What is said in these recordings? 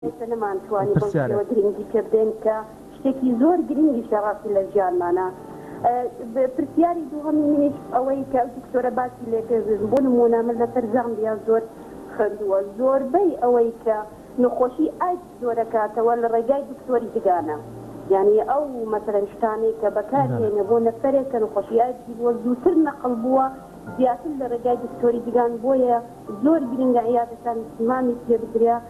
ئێستا نەمانتوانی بەو شێوە گرنگی پێ بدەین کە شتێکی زۆر گرنگیشە ڕاستی لە ژیانمانا. پرسیاری دووهەمی منیش ئەوەی کە ئەو دکتۆرە باسی لێ کرد، بۆ نموونە من لەسەر زامبیا زۆر خوێندووە، زۆربەی ئەوەی کە نەخۆشی ئایدز جۆرەکاتەوە لە ڕێگای دکتۆری ددانە، یانی ئەو مەسەلەن شتانەی کە بەکاری هێنە بۆ نەفەرێک کە نەخۆشی ئایدزی بووە زووتر نەقڵ بووە زیاتر لە ڕێگای دکتۆری ددان، بۆیە زۆر گرنگە عیادەتان زمامی پێ بدرێ.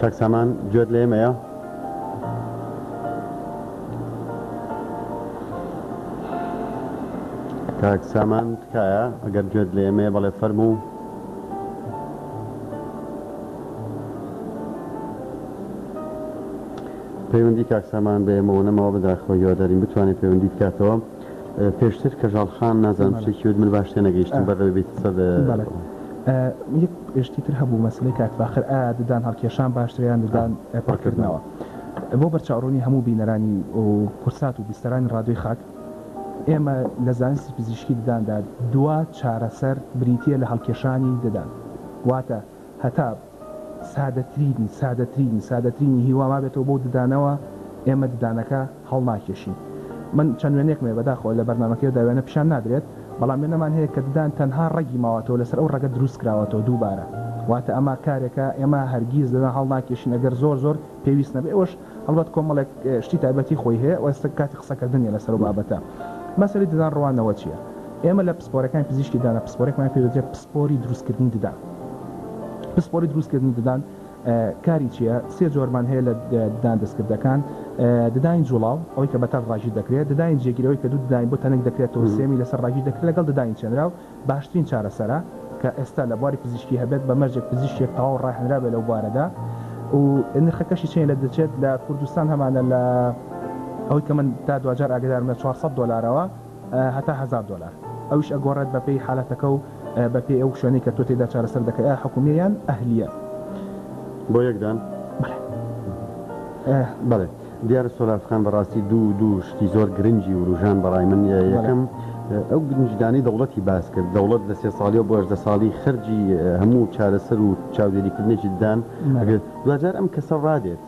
کاک سامان گوێت لە ئێمەیە کاک سامان تکایە ئەگەر گوێت لە ئێمەیە بەڵێ فەرموو پەیوەندی کاک سامان بە ئێمەوە نەماوە بەداخەوە هیوادارین بتوانێت پەیوەندی بکاتەوە پێشتر کەژاڵ خان نازانم شتێکی وت من باش تێنەگەیشتم بەر لەوەی بیت قسە بە یەک شتی تر هەبوو مەسەلەی کاک فاخر ئایا ددان هەڵکێشان باشترە یان ددان پڕکردنەوە بۆ بەرچاوڕوونی هەموو بینەرانی و کورسات و بیستەرانی ڕادوی خاک ئێمە لە زانستی پزیشکی دداندا دوا چارەسەر بریتە لە هەڵکێشانی ددان واتە هەتا سادەترینی سادەترینی سادەترینی هیوا مابێتەوە بەو ددانەوە ئێمە ددانەکە هەڵناکێشین من چەند وێنەیەکم هەیە بەداخەوە لە بەرنامەکەیەدا وێنە پیشان نادرێت بەڵام وێنەمان هەیە کە ددان تەنها ڕەگی ماوەتەوە لەسەر ئەو ڕەگە دروست کراوەتەوە دووبارە واتە ئەمە کارێکە ئێمە هەرگیز ددان هەڵناکێشین ئەگەر زۆر زۆر پێویست نەبێت ئەوەش هەڵبەت کۆمەڵێک شتی تایبەتی خۆی هەیە و ئێستا کاتی قسەکردن نیە لەسەر ئەو بابەتە مەسەلەی ددان ڕوانەوە چیە ئێمە لە پسپۆرەکانی پزیشکی ددانە پسپۆرێکمان پێ دەوترێت پسپۆری دروستکردنی ددان پسپۆری دروستکردنی ددان کاری چیە سێ جۆرمان هەیە لە ددان دەستکردەکان ددانی جوڵاو ئەوەی کە بەتەل ڕاژی دەکرێت ددانی جێگیرەوەی کە دوو ددانی بۆ تەنک دەکرێتەوە سێمی لەسەر ڕاژی دەکرێت لەگەڵ ددانی چێنراو باشترین چارەسەرە کە ئێستا لە بواری پزیشکی هەبێت بە مەرجێک پزیشکێک تەواو ڕاهێنرابێت لەو بوارەدا و نرخەکەشی چەنی لێ دەچێت لە کوردستان هەمانە لە ئەوەی کە من تا دواجار ئاگەدارم لە چوار سەد دۆلارەوە هەتا هەزار دۆلار ئەویش ئەگۆڕێت بەپێی حالەتەکە و بەپێی ئەو شوێنەی کە تۆ تێیدا چارەسەر دەکەی ئایا حکومیە یان ئەهلیە. بۆ یەک دان؟ بەڵێ. بەڵێ. دیارە سۆراب خان بەڕاستی دوو دوو شتی زۆر گرنگی وروژان بەڕای من یەکەم ئەو گرنجدانی دەوڵەتی باس کرد دەوڵەت لە سێ ساڵی و بۆ هەژدە ساڵی خەرجی هەموو چارەسەر و چاودێریکردنێکی ددان ئەگرێت دواجار ئەم کەسە ڕادێت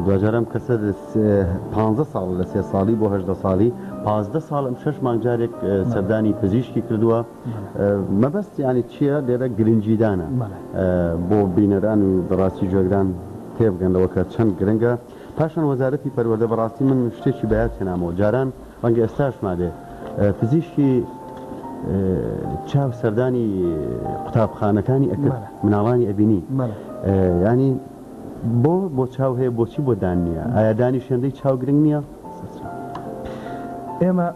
دواجار ئەم کەسە پ ساڵ لە سێ ساڵی بۆ هەژدە ساڵی پازدە ساڵ ئەم شەش مانگجارێک سەردانی پزیشکی کردووە. مەبەست یانی چیە لێرە گرنگیدانە بۆ بینەران و بەڕاستی گوێگران تێبگەن لەوە کە چەند گرنگە پاشان وەزارەتی پەروەردە بەڕاستی من شتێکی بەیاد هێنامەوە جاران ڕەنگە ئێستاش مابێ پزیشکی چاو سەردانی قوتابخانەکانی ئەکرد مناڵانی ئەبینی ینی بۆ بۆ چاو هەیە بۆچی بۆ دان نییە ئایا دانی شوێندەی چاو گرنگ نییە ئێمە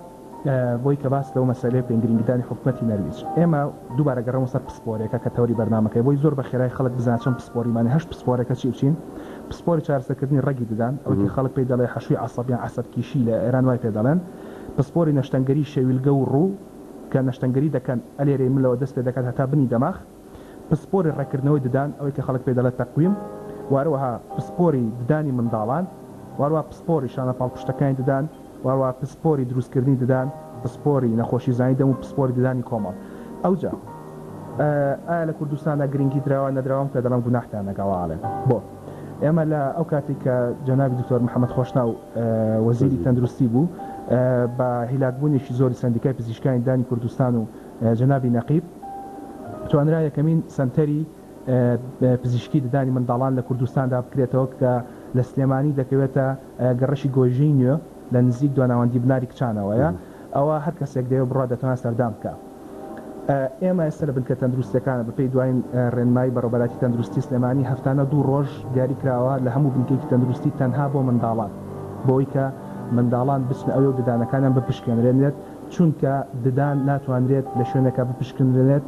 بۆی کە باس لەو مەسەلەیە بکەین گرینگیدانی حکومەتی نەرویج ئێمە دووبارە گەڕێمەوە سەر پسپۆرێکە کە تەوری بەرنامەکەی بۆی زۆر بە خێرای خەڵک بزانێت چۆن پسپۆریمانی هەشت پسپۆرەکە چی و چین پسپۆری چارەسەرکردنی ڕەگی ددان ئەوەی کە خەڵک پێی دەڵێت حەشوی عەسەب یان عەسەب کیشی لە ئێران وای پێ دەڵێن پسپۆری نەشتەنگەری شەویلگە و ڕوو کە نەشتەنگەری دەکەن ئەلێرەی ملەوە دەست پێ دەکات هەتا بنی دەماخ پسپۆری ڕێککردنەوەی ددان، ئەوەی کە خەڵک پێی دەڵێت تەقویم، و هەروەها پسپۆری ددانی منداڵان، و هەروەها پسپۆری شانە پاڵپشتەکانی ددان، و هەروەها پسپۆری دروستکردنی ددان، پسپۆری نەخۆشیزانی دەم و پسپۆری ددانی کۆمەڵ. ئەوجا ئایا لە کوردستاندا گرنگی دراوە نەدراوە ئەم پێدەڵێم گوناحتان لەگەڵ ئاڵێم بۆ ئێمە لە ئەو کاتی کە جەنابی دکتۆر محمد خۆشناو وەزیری تەندروستی بوو بە هیلاکبوونێکی زۆری سەندیکای پزیشکانی ددانی کوردستان و جەنابی نەقیب، توانرا یەکەمین سەنتەری پزیشکی ددانی منداڵان لە کوردستان دابکرێتەوە کە لە سلێمانی دەکەوێتە گەڕەکی گۆیژەی نوێ لە نزیک دواناوەندی بناری کچانەوەیە ئەوە هەر کەسێک دەوێت بڕوات دەتوانێت سەردان بکا ئێمە ئێستا لە بنکە تەندروستیەکانە بەپێی دواین ڕێنمایی بەڕێوبەرایەتی تەندروستی سلێمانی هەفتانە دوو ڕۆژ دیاری کراوە لە هەموو بنکەیەکی تەندروستی تەنها بۆ منداڵان بۆ ئەوەی کە منداڵان بچنە ئەوێ و ددانەکانیان بپشکێنرێنێت. چونکە ددان ناتوانرێت لە شوێنێکا بپشکنرێنێت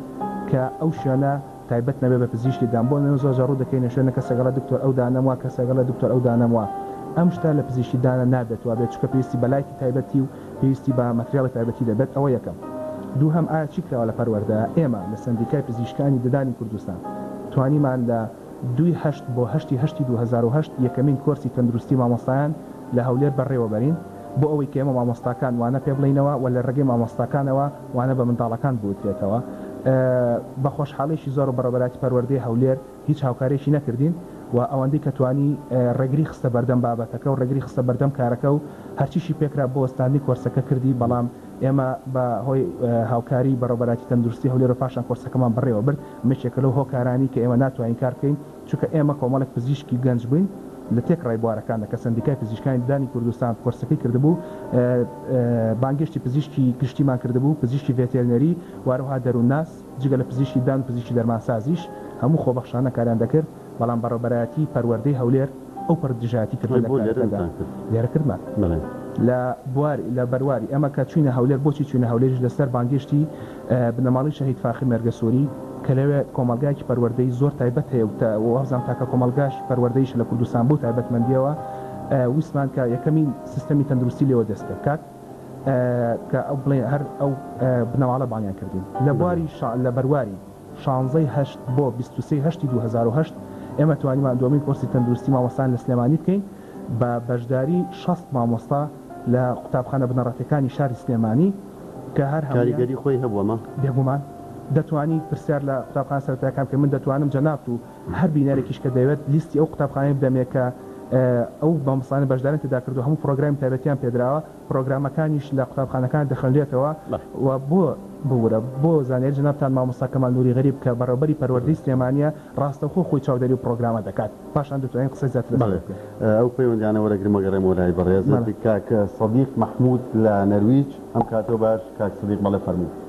کە ئەو شوێنە تایبەت نەبێت بە پزیشکی ددان بۆ نموونە زۆرجار ڕوو دەکەینە شوێنێک کەسێک ئەڵێت دکتۆر ئەو دانەم وا کەسێک ئەڵێت دکتۆر ئەو دانەم وا ئەم شتە لە پزیشکی ددانە نابێت وابێت چونکە پێویستی بە لایتی تایبەتی و پێویستی بە ماتریاڵی تایبەتی دەبێت ئەوە یەکەم دووهەم ئایا چی کراوە لە پەروەردە ئێمە لە سەندیکای پزیشکانی ددانی کوردستان توانیمان لە دووی هەشت بۆ هەشتی هەشتی دوو هەزار و هەشت یەکەمین کۆرسی تەندروستی مامۆستایان لە هەولێر بەڕێوەبەرین بۆ ئەوەی کە ئێمە مامۆستاکان وانە پێ بڵێینەوە و لە رێگەی مامۆستاکانەوە وانە بە منداڵەکان بوترێتەوە بە خۆشحاڵیەکی زۆر بەڕێوەبەرایەتی پەروەردەی هەولێر هیچ هاوکاریەکی نەکردین و ئەوەندەی کە توانی رێگری خستە بەردەم بابەتەکە و رێگری خستە بەردەم کارەکە و هەرچیشی پێکرا بۆ وەستاندنی کۆرسەکە کردی بەڵام ئێمە بە هۆی هاوکاری بەڕێوەبەرایەتی تەندروستی هەولێر و پاشان کۆرسەکەمان بەڕێوەبرد. ئەمە یەکێکە لەو هۆکارانەی کە ئێمە ناتوانین کار بکەین، چونکە ئێمە کۆمەڵێک پزیشکی گەنج بووین لە تێکڕای بوارەکاندا کە سەندیکای پزیشکانی ددانی کوردستان کۆرسەکەی کردبوو، بانگهێشتی پزیشکی گشتیمان کردبوو، پزیشکی ڤێتێرنەری و هەروەها دەروونناس، جگە لە پزیشکی ددان و پزیشکی دەرمانسازیش هەموو خۆبەخشانە کاریان دەکرد. بەڵام بەڕێوبەرایەتی پەروەردەی هەولێر ئەو پەڕی دژایەتی کردووە لە کارەکەدا لێرە کردمان لە بواری لە بەرواری ئەمە کە چووینە هەولێر بۆچی چووینە هەولێریش لەسەر بانگێشتی بنەماڵەی شەهید فاخر مێرگەسۆری کە لەوێ کۆمەڵگایەکی پەروەردەی زۆر تایبەت هەیە و وابزانم تاکە کۆمەڵگاش پەروەردەیشە لە کوردستان بەو تایبەتمەندییەوە ویستمان کە یەکەمین سیستەمی تەندروستی لێوە دەست پێ بکات کە ئەو بڵێ هەر ئەو بنەماڵە بانگیان کردین لە بواری شا لە بەرواری شانزەی هەشت بۆ بیست و سێی هەشتی دوو هەزار و هەشت ئێمە توانیمان دووەمین کۆرسی تەندروستی مامۆستایان لە سلێمانی بکەین بە بەشداری شەست مامۆستا لە قوتابخانە بنەڕەتیەکانی شاری سلێمانی کە هەر هەموویان کاریگەری خۆی هەبووە مە. بێگومان دەتوانی پرسیار لە قوتابخانە سەرەتایەکان بکەی من دەتوانم جەنابت و هەر بینەرێکیش کە دەوێت لیستی ئەو قوتابخانانەی بدەمێ کە ئەو مامۆستایانە بەشداریان تێدا کردووە هەموو پڕۆگرامی تایبەتیان پێدراوە پرۆگرامەکانیش لە قوتابخانەکان دەخوێنرێتەوە و بۆ ببورە بۆ زانیاری جەنابتان مامۆستا کەمال نوری غەریب کە بەڕێوبەری پەروەردەی سلێمانیە ڕاستەوخۆ خۆی چاودێری ئەو پرۆگرامە دەکات پاشان دەتوانین قسەی زیاتر لەسەر بکەین. بەڵێ ئەو پەیوەندیانە وەرەگرم و گەڕێمەوە لای بەڕێزت. کاک سەدیق مەحمود لە نەرویج ئەم کاتەو باش کاک سەدیق بەڵێ فەرموو.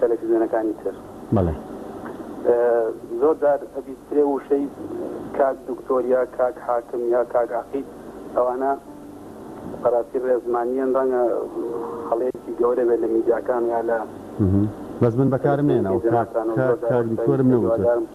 تەلەفزیۆنەکانی تر بەڵێ. زۆر جار ئەبیسترێ ووشەی کاک دکتۆر یا کاک حاکم یا کاک عەقید ئەوانە بەراستی رێزمانیەن رەنگە هەڵەیەکی گەورە بێت لە میدیاکان یا لە. بەس من بەکارم نەیەناوە کاک کاک دکتۆرم نەوتوە.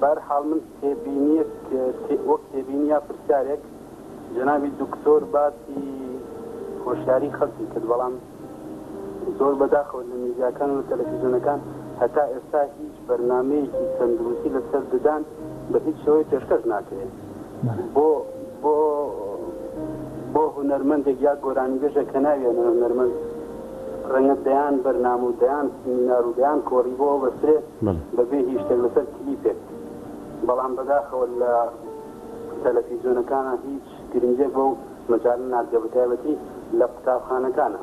بەهەر حاڵ من تێبینیەک وەک تێبینی یا پرسیارێک جەنابی دکتۆر باسی هۆشیاری خەڵکی کرد بەڵام زۆر بەداخەوە لە میدیاکان و تەلەفیزیۆنەکان هەتا ئێستا هیچ بەرنمەیەکی تەندروستی لەسەر ددان بە هیچ شێوەی پێشکەش ناکرێت بۆ بۆ بۆ هونەرمەندێک یا گۆرانیبێژە کە ناوێنە هونەرمەند ڕەنگە دەیان بەرنامە و دەیان سمینار و دەیان کۆڕی بۆ بەسرێ بەبێ هیچ شتێک لەسەر کلیپێک بەڵام بەداخەوە لە تەلەفیزیۆنەکانە هیچ گرنگێک بۆ مەجال نادگە بەتایبەتی لە قوتابخانەکانە